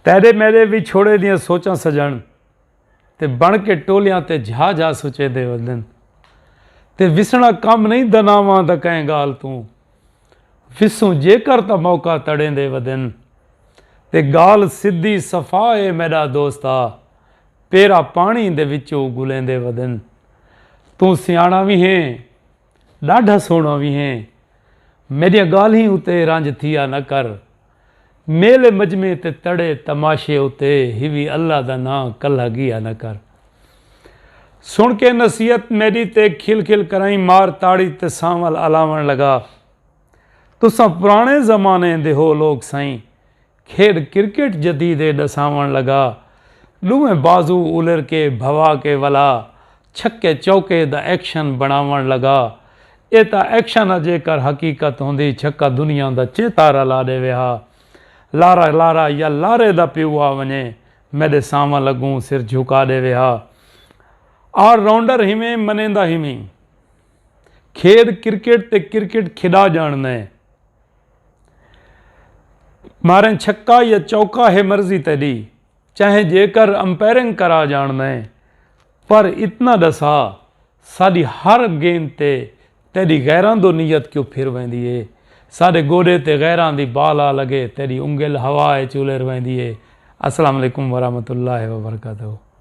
تیڈے میڈے وچھوڑے دیاں سوچاں سجݨ تے بݨ کے ٹولیاں تے جھا جھا سچیدے ودن تے وسݨا کم نئیں دناواں دا کئیں گالھ توں وسوں جیکر تاں موقع تڑیندے ودن تے گالھ سدھی صفا اے میڈا دوستا پیرا پاݨی دے وچو گلیندے ودن توں سیاݨا وی ہیں ڈاڈھا سوہݨا وی ہیں میڈیاں گالہیں اتے رنج تھیا نہ کر میلے مجمعے تے تڑے تماشے اتے ہیوی اللہ دا ناں کلہا گیا نہ کر سن کے نصیحت میڈی تے کھل کھل کرائیں مار تاڑی تے سانول الاون لگا تساں پرانے زمانے دے ہو لوگ سائیں کھیڈ کرکٹ جدیدے ڈساون لگا ڈوہیں بازو الر کے بھوا کے ولا چھکے چوکے دا ایکشن بنڑاونڑ لگا۔ اے تاں ایکشن ہا جیکر حقیقت ہوندی چھکا دنیا دا چیتا رلا ڈیوے ہا۔ لارا لارا یا لارے دا پیو آ ونجے میڈے ساماں لگوں سر جھکا ڈیوے ہا۔ آل راؤنڈر ہیویں منیندا ہیویں۔ کھیڈ کرکٹ تے کرکٹ کھیڈا جانڑدے۔ ماریں چھکا یا چوکا ہے مرضی تیڈی۔ چاہیں جیکر امپیئرنگ کرا جانڑدے پر اتنا ڈسا ساڈی ہر گیند تے تیڈی غیراں دو نیت کیوں پھر ویندی اے ساڈے گوڈے تے غیراں دی بال آ لگے تیڈی انگل ہوا اچ الر ویندی اے السلام علیکم ورحمت اللہ وبرکاتہ۔